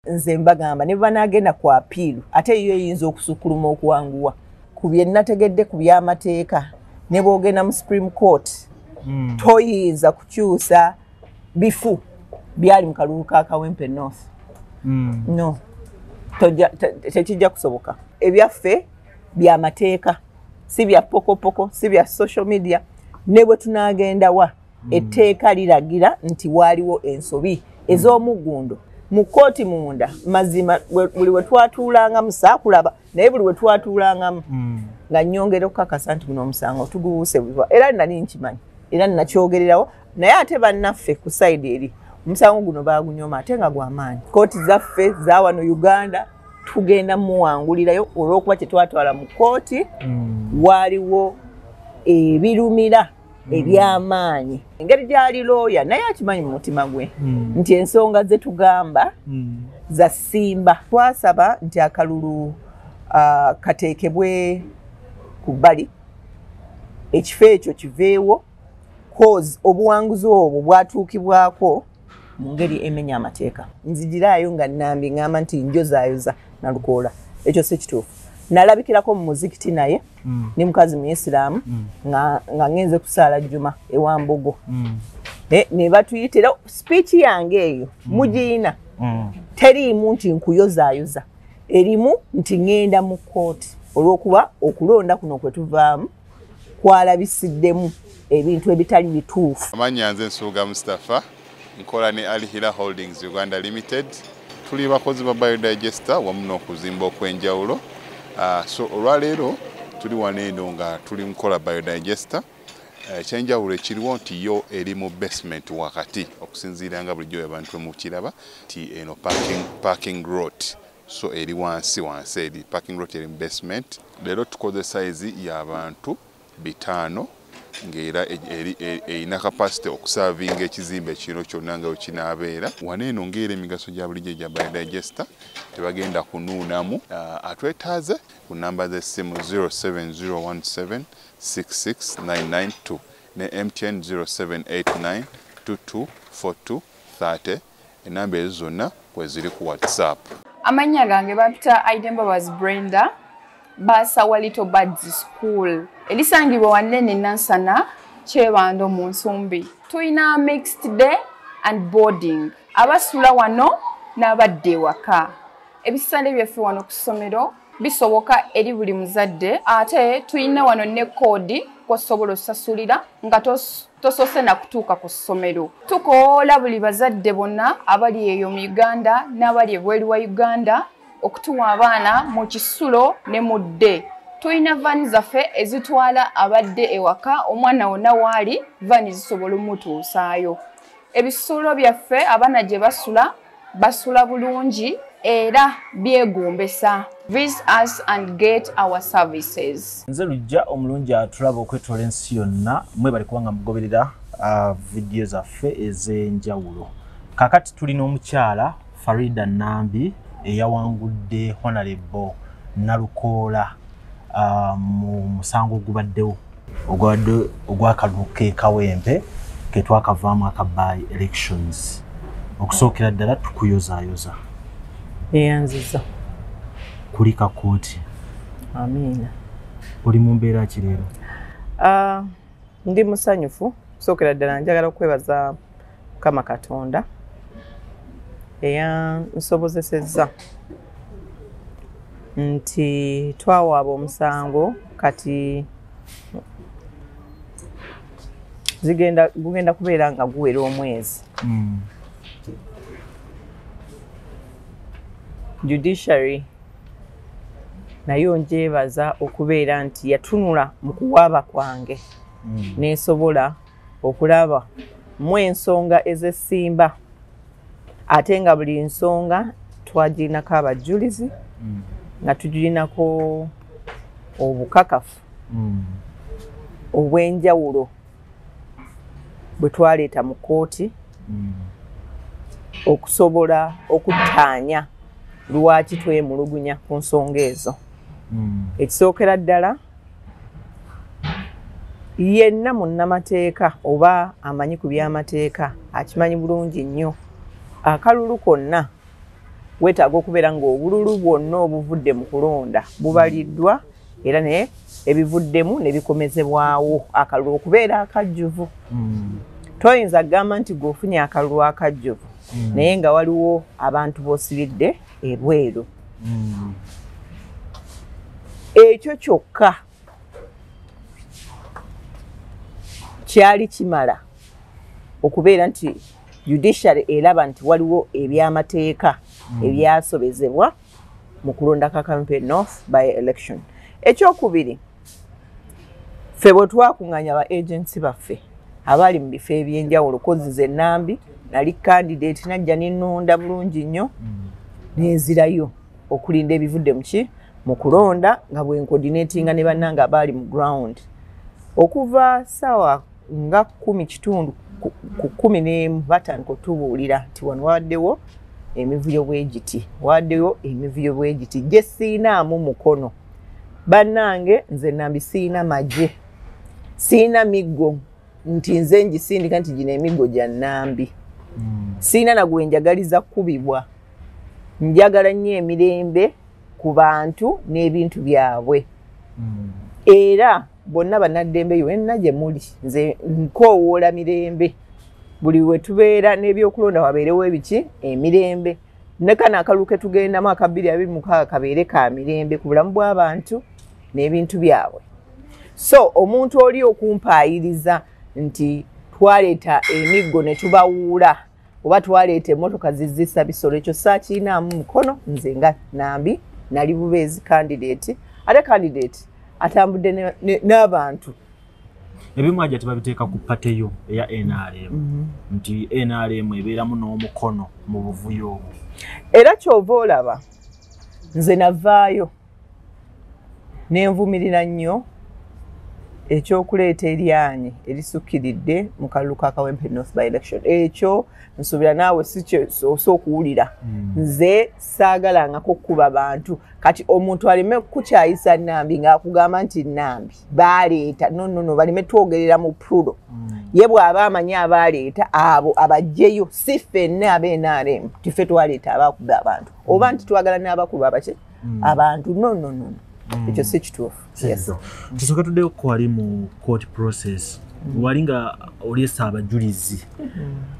nze mbagamba ne banaagenda ku apiilu ate yo eyinza okusukkuluma okuwanguwa ku bye nategedde ku by'amateeka ne boogenda mu supreme court hmm. toyinza kukyusa bifu byali mu kalulu ka kawempe north hmm. no tekijja kusoboka ebyaffe byamateeka si bya pokopoko si bya social media ne bwe tunaagendawa hmm. etteeka liragira nti waaliwo ensobi hmm. ez'omuggundo mu kkooti munda mazima buli we twatuulangamu saakulaba naye buli we twatuulangamu hmm. nga nnyongera okukakasa nti guno omusango tuguwuuse buva era nali nkimanyi era nakyogererawo naye ate bannaffe ku sayidi eri omusango guno baagunyoma ate nga gwamaanyi kkooti zaffe zawano uganda tugenda muwangulirayo olw'okuba kyetwatwala mu kkooti waaliwo ebirumira hmm. ebyamaanyi engeri gyali looya naye akimanyi mu mutima gwe hmm. nti ensonga ze tugamba hmm. za simba twasaba nti akalulu uh, kateekebwe ku bbali ekifo ekyo kiveewo cause obuwanguzi obwo bwatuukibwako mu ngeri emenya amateeka nzijiraayo nga nambi ngamba nti njozaayoza nalukoola ekyo si kituufu nalabikirako mu muzikiti naye mm. ni mukazi muyisiraamu mm. nga ngenze kusaala jjuma ewambogo mm. eh, ne batuyitira speech yange eyo mm. mugiyina mm. teriimu nti nkuyozaayoza erimu nti ŋenda mu kooti olwokuba okulonda kuno kwetuvaamu kwalabisiddemu ebintu ebitali bituufu amanya nze nsuuga mustapha nkola ne alhila holdings uganda limited tuli bakozi ba biodigester wamu n'okuzimba okw'enjawulo ah, so olwaleero tuli wano eno nga tuli mukola biodigester Eh, ekyenjawulo ekiriwo nti yo eri mu basement wakati okusinziira nga bulijjo abantu emukiraba nti eno parking, parking rot so eri wansi wansi eri parking lot eri mu basement leero tukoze sayizi y'abantu bitaano ng'era e, e, e, erina kapasite okusavinga ekizimbe kino kyonna nga wekinaabeera wana eno ng'era emigaso gya bulijjo gya biodigesta tebagenda kunuunamu ah, atwetaaze ku namba z'essimu 0701766992 ne mtn 0789224230 enamba ezo zonna kweziri ku whatsapp amannya gange bampita aidembabazi brenda basawa little bads school elisangibwa wanene nansana kyebando mu nsumbi tulina mixed day and boarding abasula wano n'abadda ewaka ebisale byaffe wano ku ssomero bisoboka eri buli muzadde ate tulina wano ne koodi kosobola osasulira nga tosoose nakutuuka ku ssomero tukoola buli bazadde bonna abali eyo mu uganda n'abali ebweru wa uganda okutuwa abaana mu kisulo ne mu dde tulina vaani zaffe ezitwala abadde ewaka omwana wonna waali vaani zisobola omutuusaayo ebisuulo byaffe abaana gye basula basula bulungi era byegombesa nze lujja omulungi atulaba okwetoola ensi yonna mwebali kubanga mugoberera uh, vidiyo zaffe ez'enjawulo kakati tulina omukyala farida nambi eyawangudde honalebo nalukoola mu musango ogubaddewo ogwabadde ogwakaduka kekawempe ketwakavaamu aka by elections okusookera ddala tukuyozayoza eyanziza kulika kooti amiina oli mu mbeera ki leero ah, Ndi musanyufu sookera ddala njagala okwebaza Mukama Katonda eyansobozesezza nti twawaaba omusango kati zigenda gugenda kubeera nga guwera omwezi mm. judiciary naye onjeebaza okubeera nti yatunula mu kuwaaba kwange hmm. nensobola okulaba mu ensonga ezesimba ate nga buli nsonga twagirinako abajjulizi hmm. nga tugirinako obukakafu hmm. obwenjawulo bwe twaleeta mu kkooti mm. okusobola okuttaanya lwaki twemulugunya ku nsonga ezo mm. ekisookera ddala yenna munnamateeka oba amanyi ku byamateeka akimanyi bulungi nnyo akalulu konna weetaaga okubeera ng'obululu bwonna obuvudde mu kulonda bubaliddwa era ne ebivuddemu ne bikomezebwawo akalulu okubeera akajjuvu hmm. toyinza kugamba nti gweofunye akalulu akajjuvu hmm. naye nga waliwo abantu b'osibidde ebweru hmm. ekyo kyokka kyali kimala okubeera nti judiciary elaba nti waliwo ebyamateeka mm. ebyasobezebwa mu kulonda kakampe north by election ekyokubiri ffe bwe twakunganya ba agensi baffe abaali mu bifo ebyenjawulo kozi ze nambi nali kandidate najja nenonda bulungi nnyo mm. nenzirayo okulinda ebivudde muki mu kulonda nga bwenkodinatinga ne bannanga abaali mu ground okuva saawa nga kumi kitundu ku kumi n'emu batandika otubuulira nti wano wawaddewo emivuyo bwegiti wawaddewo emivuyo bwegiti gye siinaamu mukono bannange nze nambi siina magye siina miggo nti nze ngisindika nti gino emiggo gya nambi hmm. siina nagwe njagaliza kukubibwa njagala nnyo emirembe ku bantu n'ebintu byabwe hmm. era bonna banaddembe yonna gye muli nze nkoowoola mirembe buli we tubeera n'ebyokulonda wabeerewo ebiki emirembe ne kano akalulu ke tugendamu aka bbiri abiri mukaaga kabeere ka mirembe ku bulamu bw'abantu n'ebintu byabwe so omuntu oli okumpaayiriza nti twaleeta emiggo ne tubawuula oba twaleeta emotoka zizisa bisolo ekyo sakiinaamu mukono nze nga nambi nali bubeezi kandidate ate kandidate atambudde n'abantu ebimu aja tebabiteeka ku pateyo eya nrm mhm. nti nrm ebeeramu n'omukono mu buvuyo obwo era kyova olaba nze navaayo nenvumirira nnyo ekyokuleeta eryanyi erisukkiridde mu kalulu ka kawempe north by election ekyo nsuubira naawe sikyosa okuwulira hmm. nze saagalangako okukuba bantu kati omuntu aleme kukukyayisa nambi ngaakugamba nti nambi baaleeta nonono baleme twogerera mu prudo hmm. ye bw'aba amanyi abaaleeta abo abajjeyo si ffenne abnrm tife twaleeta abakuba abantu oba nti twagala n'abakuba abakye mm. abantu no no no mm. ekyo si kituufu tusooke tuddeyo kukwali mu court process mm. wali nga olesa abajulizi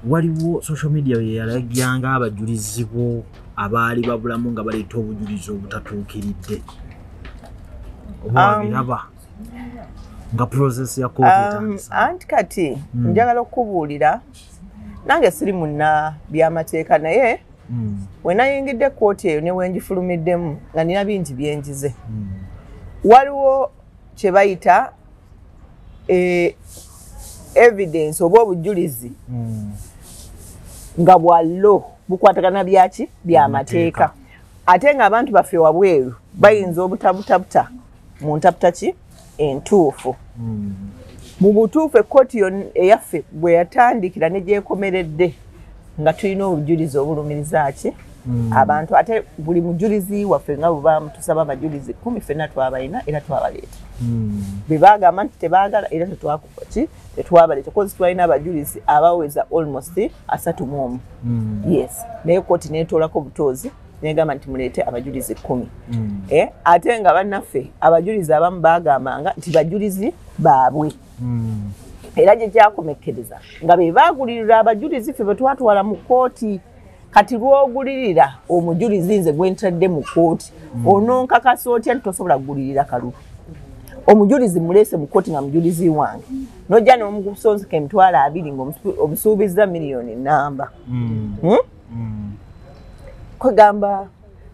waliwo social media yeyalagyanga abajulizi bo abaali babulamu nga baleeta obujulizi obutatuukiridde obabiraba um, nga process ya um, anti kati hmm. njagala okukubuulira nange siri munna byamateeka naye mm. we nayingidde kkooti eyo ne wengifulumiddemu nga nina bingi byenjize mm. waliwo kye bayita e, evidence oba obujjulizi mm. nga bwa lo bukwatagana byaki byamateeka ate ng'abantu baffe wabweru bayinza obutabutabuta mu ntaputa ki entuufu mu butuufu ekkooti eyaffe bwe yatandikira ne gyekomeredde nga tulina obujulizi obulumiriza ki hmm. abantu ate buli mujulizi waffe nga bwebamutusaba abajulizi kumi fenna twabalina era twabaleeta hmm. bwe bagamba nti tebagala era tetwakukoki tetwabaleeta kozi twalina abajulizi abaweza almost asatu mu omu hmm. yes naye kooti netoolako butoozi negamba nti muleete abajulizi kumi mm. eh, ate nga bannaffe abajulizi abamu bagambanga nti bajulizi baabwe mm. era gye kyakomekkereza nga be baagulirira abajulizi ffe bwe twatwala mu kkooti kati lwogulirira omujulizi nze gwentadde mu kkooti mm. ononkakasa otya nti tosobola kugulirira kalu omujulizi muleese mu kkooti nga mujulizi wange nojja nomukusonzika emitwalo abiri ngaobusuubizza miliyoni namba hmm? mm. kwegamba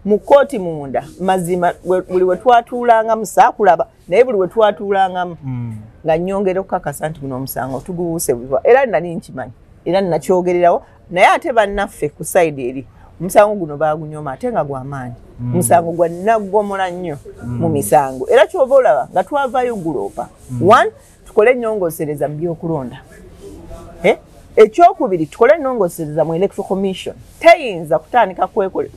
mu kkooti munda mazima buli we twatuulangamu saakulaba naye buli we twatuulangamu mm. nga nyongera okukakasa nti guno omusango tuguwuuse buziba era nali nkimanyi era nakyogererawo naye ate bannaffe ku sayidi eri omusango guno bagunyoma ate nga gwamaanyi mm. omusango mm. gwa naggomola nnyo mm. mu misango era kyova olaba nga twavayo guloopa mm. one tukole enyongosereza mu byokulonda eh? ekyokubiri tukole enongosereza mu electro commission teyinza kutandika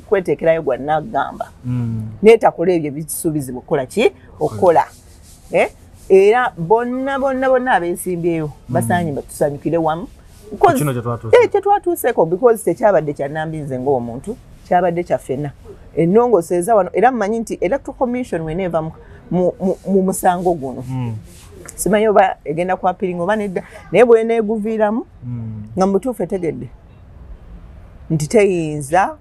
kwetekerayo gwa nagamba mm. netakola ebyo bisuubizibwa okukola ki okukola eh? era bonna bonna bonna abesimbyeyo mm. basaanye batusanyukire wamu eh, kyetwatuuseko because tekyabadde kyanambi nze ngaomuntu kyabadde kyafena enongoseeza wano era mumanyi nti electro commission wena eva mu musango guno hmm. simanyi oba egenda kwapiringa oba nedda naye bweneeguviiramu hmm. nga mubutuufu etegedde nti teyinza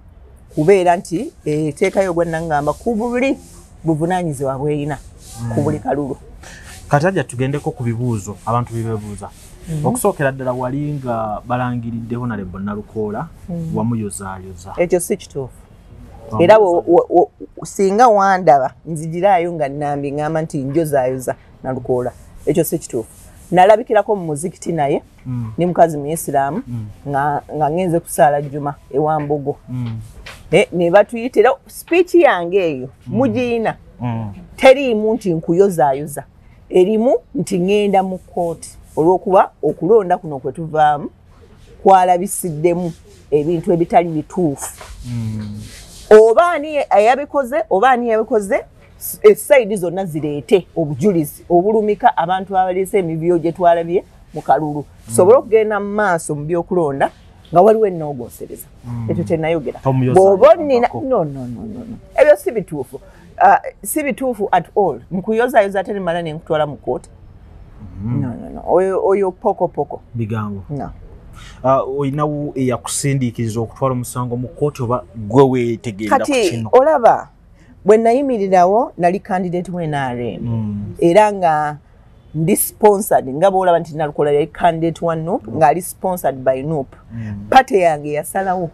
kubeera nti eteekayo ogwannangamba ku buli buvunaanyizibwa bwerina ku buli kalulu kataja tugendeko ku bibuuzo abantu bibebuuza mhm. okusookera ddala wali nga balangiridde honalebo nalukoola mhm. wamuyozaayoza ekyo si kituufu era singa wandaba nzigiraayo nga nambi ngamba nti njozaayoza nalukoola ekyo si kituufu nalabikirako mu muzikiti naye mm. ndi mukazi muyisiraamu mm. nga ngenze kusaala jjuma ewambogo mm. eh, ne batuyita era sipiiki yange eyo mugiyina teriimu nti nkuyozaayoza erimu nti ŋenda mu kkooti olw'okuba okulonda kuno kwe tuvaamu kwalabisiddemu ebintu ebitali bituufu oba ani yabikoze oba ani yabikoze esaidi zonna zireete obujulizi obulumika abantu abaleese emibiyo gye twalabye mu kalulu tusobole okugenda mu maaso mu byokulonda nga waliwo enoogonsereza hmm. ekyo kyenayogera bwoba onina ebyo si bituufu uh, si bituufu at all nkuyozayoza ate nemala nenkutwala mu kooti hmm. oyo pokopoko bigambo uh, olinawo eyakusindiikiriza okutwala omusango mu kooti oba gwe wetegeera kati olaba bwe nayimirirawo nali candidate mu nrm mm. era nga ndi sponsored nga bwolaba nti nalukola yali candidate wa nup mm. ng'ali sponsored by nup mm. pate yange yasalawo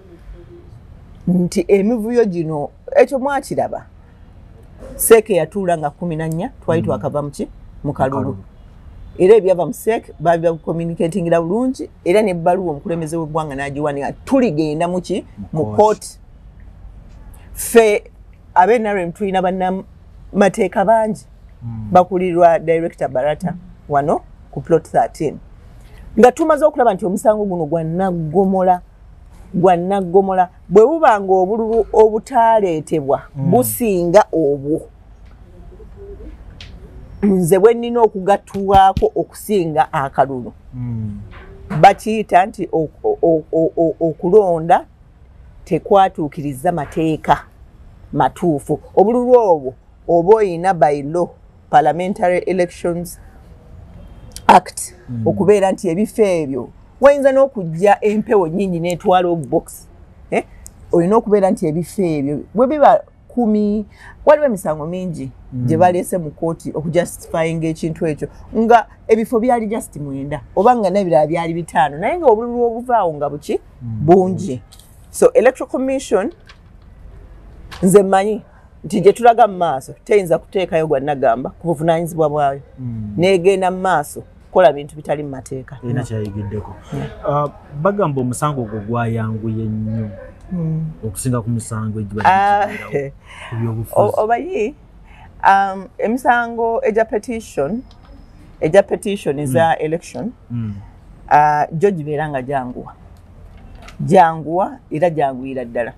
nti emivuyo gino ekyo mwakiraba seeke yatuula nga kumi na nnya twali mm. twakava muki mu kalulu era ebyava mu seek baali bakucommunicatingira bulungi era nebbaluwa omukulembeze w'eggwanga n'agiwanika tuligenda muki mu kooti ffe abe nrm tulina banamateeka bangi hmm. bakulirwa director barata wano ku plot 13 nga tumaze okulaba nti omusango guno gwanaggomola gwanaggomola bwe buba nga obululu obutaaleetebwa hmm. businga obwo nze bwe nnina okugattulwako okusinga akalulu hmm. bakiyita nti okulonda tekwatuukirizza mateeka matuufu obululu obwo oba olina by law parliamentary elections act mm. okubeera nti ebifo ebyo wayinza n'okujja empewo nyingi netwala obubokisi eh? olina okubeera nti ebifo ebyo bwebiba kumi waliwo emisango mingi mm. gye baleese mu kooti okujustifyinga ekintu ekyo nga ebifo byali just mwenda oba nga nebirala byali bitaano naye nga obululu obuvaawo nga buki mm. bungi so electoral commission nze mmanyi nti gye tulaga mu maaso teyinza kuteekayo gwa nagamba ku buvunanyizibwa bwayo mm. negenda mu maaso kukola bintu bitali mu mateeka ina kyayigiddeko uh, bagamba omusango ogwo gwayanguye nnyo hmm. okusinga ku misango egibyobufuobayi ah, um, emisango egya petition egya petition eza hmm. election hmm. Ah, gyo gibeera nga gyanguwa gyanguwa era gyanguyira ddala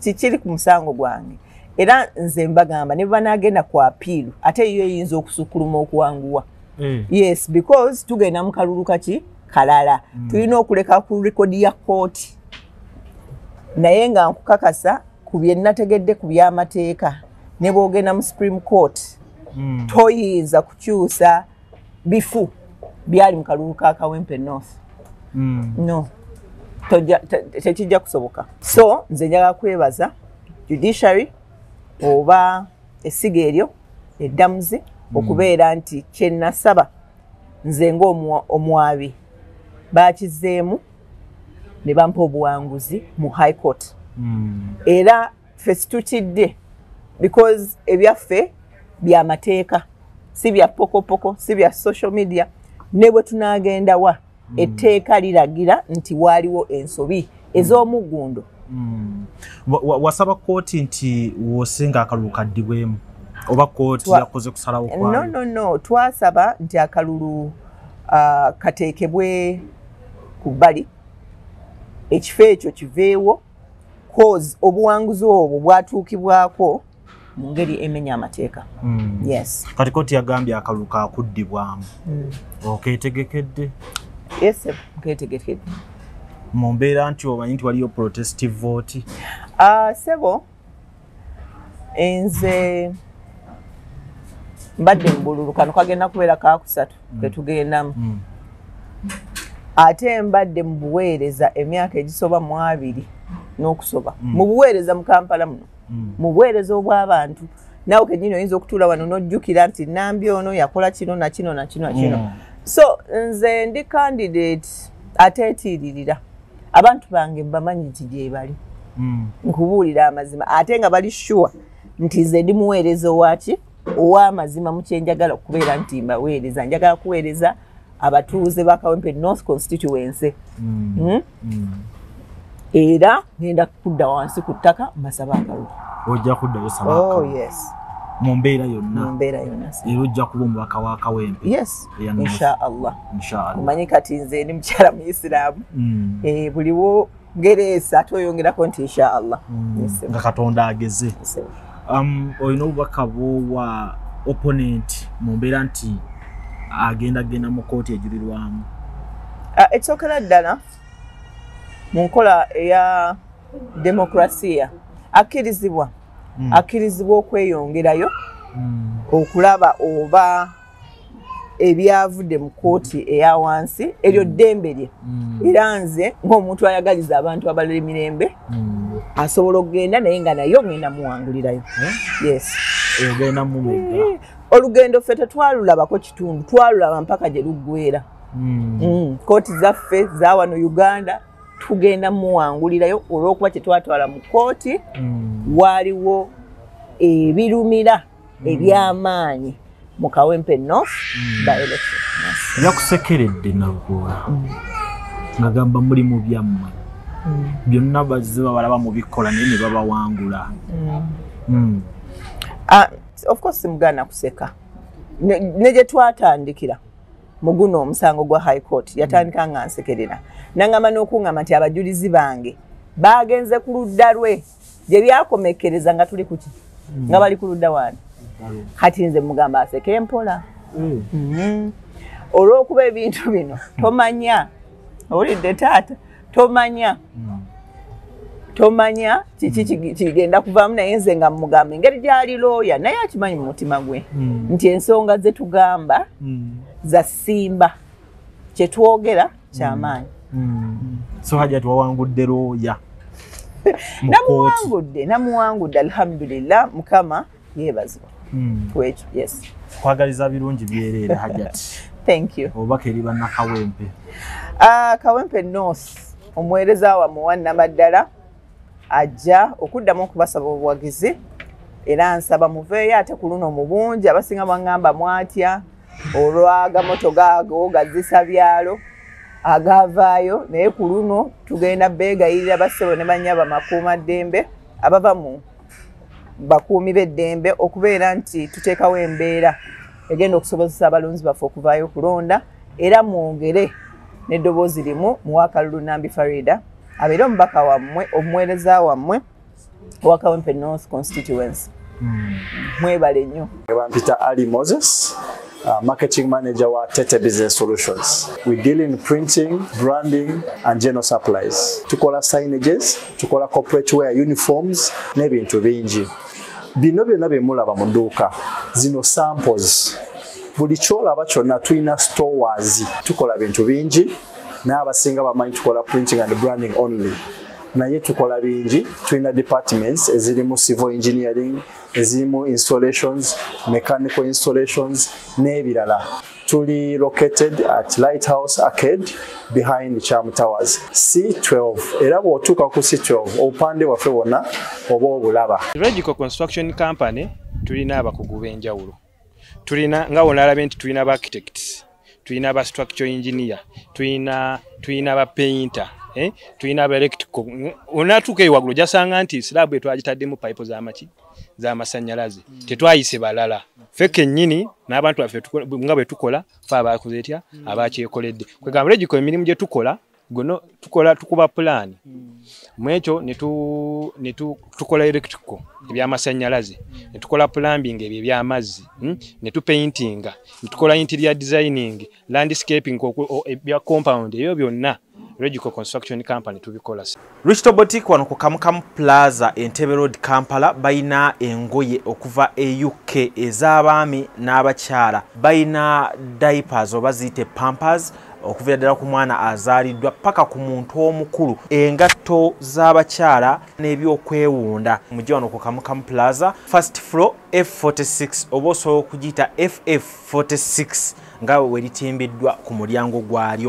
kikiri ku musango gwange era nze mbagamba ne banaagenda ku apiiru ate yo eyinza okusukkuluma okuwanguwa Eh. yes because tugenda mu kalulu kaki kalala mm. tulina okuleka ku rekodi ya kooti naye nga nkukakasa ku bye nategedde ku byamateeka ne bwogenda mu supreme court mm. toyinza kukyusa bifu byali mu kalulu ka kawempe north mm. no tekijja kusoboka so nze njagala kwebaza judiciary oba esiga eryo eddamuzi hmm. okubeera nti kyenasaba nze ngaomwabi bakizeemu ne bampa obuwanguzi mu high court hmm. era ffe situtidde because ebyaffe bya mateeka si bya pokopoko si bya social media ne bwe tunaagendawa mm. etteeka liragira nti waaliwo ensobi mm. ez'omuggundo mm. wasaba kkooti nti wosinga akalulu kaddibwemu oba kkooti yakoze kusalawo no no no twasaba nti akalulu uh, kateekebwe ku bbali ekifo ekyo kiveewo cause obuwanguzi obwo bwatuukibwako mu ngeri emenya amateeka mm. yes kati koti yagambye akalulu kakuddibwamu mm. oketegekedde yes nketegekedde mu mbeera nti omanyi nti waliyo protestive vote uh, sebo enze mbadde mubululu kano kagenda kubeera kakusatu mm. ketugendamu mm. ate mbadde mubuweereza emyaka egisoba mu abiri n'okusoba mm. mubuweereza mu kampala muno mm. mu buweereza obw'abantu nawe kenyini oyinza okutuula wano n'ojjukira nti nambi ono yakola kino nakino nakino nakino mm. so nze ndi candidate ateetiiririra abantu bange bamanyi nti gyebali mm. nkubuulira amazima ate nga bali sure nti nze ndi muweereza owaki ow'amazima mu kyenjagala okubeera nti mbaweereza njagala kuweereza abatuuze ba kawempe north constituency mm. Hmm? Mm. era ngenda kudda wansi ku ttaka mbasaba akalu ojja kuddayo saba oh, yes mu mbeera yonna mu mbeera yonna era ojja kuba omubaka wa kawempe yes inshallah inshallah omanyi kati nze ndi mukyala muisiraamu mm. eh, buliwo gereesa tweyongerako nti inshaallah mm, nga katonda ageze um, olina obubaka bwowa opponent mu mbeera nti agenda genda mu kooti ejulirwamu uh, ekyokera ddala mu nkola eya demokrasiya akkirizibwa mm. akkirizibwa okweyongerayo mm. okulaba oba ebyavudde mu kooti eya wansi eryo mm. ddembe lye mm. era nze ngaomuntu ayagaliza abantu abalala emirembe mm. asobola okugenda naye nga naye ogenda muwangulirayo eh? eh, olugendo ffe tetwalulabako kitundu twalulaba mpaka gye luggwera kooti zaffe zawano uganda tugenda muwangulirayo olwokuba kyetwatwala mu kooti waaliwo ebirumira mm. ebyamaanyi mu kawempe north mm. baelection yakusekeredde nagula mm. ngagamba muli mu byammwe byonna bazze babalaba mubikola naye ne babawangula ah, of course simugana kuseka ne gye twatandikira muguno omusango gwa high court yatandika nga nsekerera nangamba n'okuŋama nti abajulizi bange baagenze ku ludda lwe gye byakomekkereza nga tuli kuki mm. nga bali ku ludda wani kati nze mugamba aseke mpola mm. mm-hmm. olw'okuba ebintu bino tomanya owulidde taata tomanya mm. tomanya kiki mm. kigenda kuvaamu naye nze nga mugamba engeri gyali looya naye akimanyi mu mutima gwe nti ensonga ze tugamba za simba kye twogera mm. kyamaanyi hmm. so hajati wawangudde looya namuwangudde namuwangudde alhamdulillah mukama yebazibwa hmm. kwekyo yes kwagaliza birungi byereere hajati thank you obubaka eri bannakawempe ah, kawempe north omuweereza wamwe wannamaddala ajja okuddamu okubasaba obuwagizi era nsaba muveeyo ate ku luno mu bungi abasinga bangamba mwatya olwagamoto gaago gazisa byalo agavaayo naye ku luno tugenda beegayirira bassebo ne banyaba makuuma ddembe abava mu bakuumi b'eddembe okubeera nti tuteekawo embeera egenda okusobozesa abalonzi baffe okuvaayo okulonda era mwongere n'eddoboozi limu muwaakalulu nambi farida abeere omubaka wammwe omuweereza wammwe owa kawempe north constituency hmm. mwebale nnyo bampita ali moses Uh, marketing manager wa Tete Business Solutions. We deal in printing, branding and general supplies. Tukola signages, tukola corporate wear uniforms n'ebintu bingi. Bino byonna bye mulaba mu dduuka zino samples buli kyolaba kyonna tulina stores tukola bintu bingi naye abasinga bamanyi tukola printing and branding only naye tukola bingi tulina departments ezirimu civil engineering ezirimu installations mechanical installations n'ebirala tuli located at lighthouse arcade behind cham towers c12 era bw'otuuka ku c12 obupande bwaffe bwonna oba obulaba regical construction company tulina abakugu b'enjawulo tulina nga wonalabye nti tulina ba architects tulina ba structure engineer tulina tulina ba painter eh? tulina ba electrical onatuuka eyo waggulu jasanga nti slab etwagitaddemu pipe zamaki zamasannyalaze mm. tetwayise balala fe kennyini n'abantu baffe nga bwe tukola fe abakoze etya mm. abakyekoledde kwegamba regiko emirimu gye tukola guno tukola tukuba pulaani hmm. mwekyo netukola electrical hmm. ebyamasanyalaze hmm. netukola plumbing ebyo ebyamazzi netupaintinga netukola interior designing landscaping ebya compound ebyo byonna regical construction company tubikola Richto Boutique wano ku Kamukamu Plaza Entebbe Road Kampala bayina engoye okuva e UK ez'abaami n'abakyala bayina diapers oba ziyite pampers okuvira ddala ku mwana azaaliddwa paka ku muntu omukulu engatto z'abakyala n'ebyokwewunda mujja wano ku kamukamu plaza first floor f46 oba osobola okugiyita ff46 nga weritimbiddwa ku mulyango gwalyo